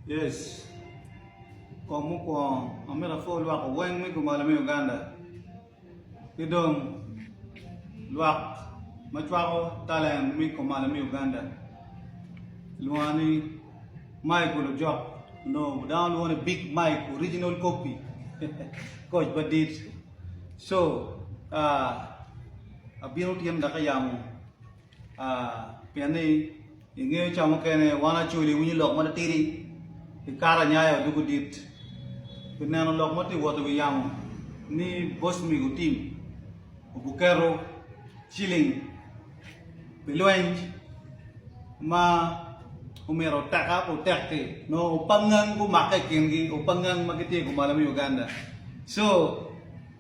Yes. Kong mukwongo, amito apwoo lwak weng me kumalo me Uganda, ki dong lwak ma cwako talent me kumalo me Uganda. Kilwonga ni Mike Olojok, onongo dano lwongo ni Big Mike, original copy, koc madit. So, ah, abino tyen ka ka yamo. Pien ni i nge ca mukene wan Acholi winyo lok ma titidi i kare anyaya odoko dit. Pi neno lok ma tye wot i wi yamo ni boss mi gutim obuketo ciling pi lweny ma omyero oteka pe otek-ki nongo opangngang gumake i kingi opangngang ma gitye i kumalo me Uganda. So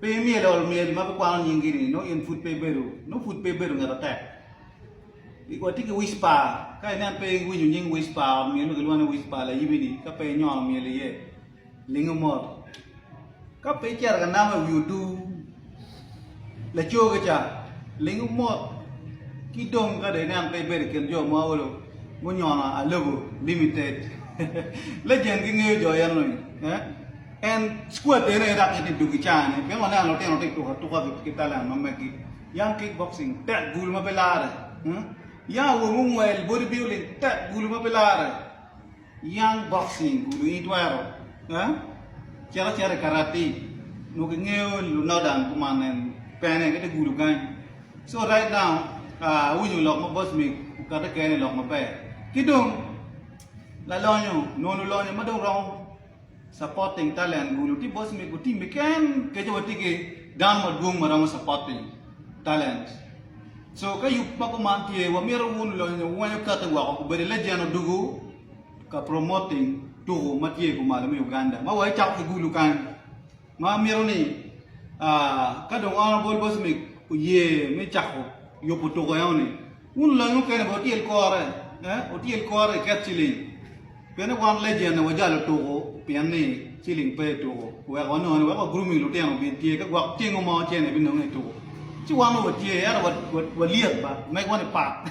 Pe imyelo ol myel ma bikwano nyingi ni nongo in pud pe ibedo nongo pud pe ibedo ngat atek. Watye ki wispa, ka inen pe iwinyo nying wispa, ot myel ma kilwongo ni wispa layibi-ni, ka pe inyono myel iye, lingo mot. Ka pe icito ka namo i wi odu lacoge ca, lingo mot. Ki dong ka dong inen pe ibedo i kin jo ma olo gunyono alobo limited, lejen gingeyo jo eno-ni. En squattene dok gitye dog i caa-ne. Pingo aneno lutino tye ka tuko atuka ki talan ma megi? Young kickboxing, tek gulu ma pe lare. Young awobi mungwel, body building, tek gulu ma pe lare. Young boxing, gulu in itwero cito acita i karati. Nongo kingeyo lunodan kuman en pene kit gulu kany. So right now, awinyo lok ma boss mig okati kene lok maber. Ki dong lalonyo, nongo lulonyo ma dong romo. Supporting talent kulu tye boss me gutim keken keco watye ki dano madwong ma romo supporting talent so ka yub ma kuman tye wamito wun lonyo wenyo kati woko kubedi legend odugu ka promoting tuku matye kumalo me Uganda ma wa icako ki gulu kany Ma amito ni ka dong on Gold Coast Mix oye me cako yubo tuko eno-ni, wun olangi mukene bene wutyel kore, wutyel kore iket ciling pienni wan Legend-ni wajalo tuko pien ni ciling pe i tuko, wek wanongone wek wa grooming lutino obin tye ka gwok ceng mo cen ebinonge i tuko. Ci wan wa watye ento walyet ba, mego-ni pat.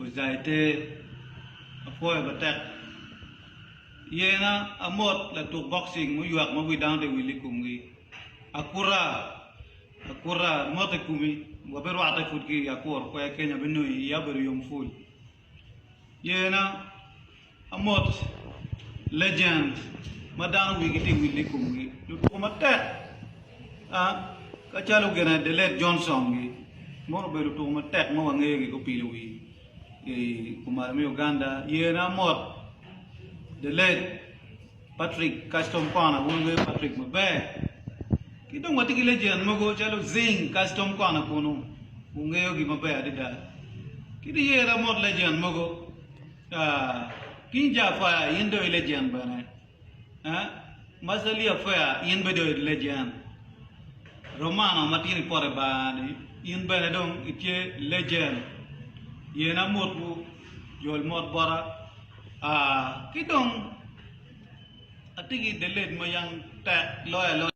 Ojai te, apwoyo matek. Yena amot latuk boxing muywak ma wi dano te wil i kumgi. Akuta, akuta, mot i kumi, wabirwatte pud ki i akur kwer kenya binongi iya obedo yom pul. Yena. Amot, legends ma dano wigi tye willi i komgi, lutuko matek kacalo gine the late Johnson gi mono obedo lutuko matek ma wangeyo gi gupilo wi i kumalo me Uganda, yene amot the late Patrick Custom Corner wun wungeyo Patrick maber ki dong watye ki legend mogo calo Zing Custom Corner kunu wungeyo gi maber adada ki dong yene amot legend mogo. King Jaafaya in dong i legend bene, Mazalia Fair in bene dong i legend, Romano matino i pote bar ni in bene dong i tye legend, Yena motwu, Jol mot bota, ki dong atye ki the late ma yang tek loyo aloya.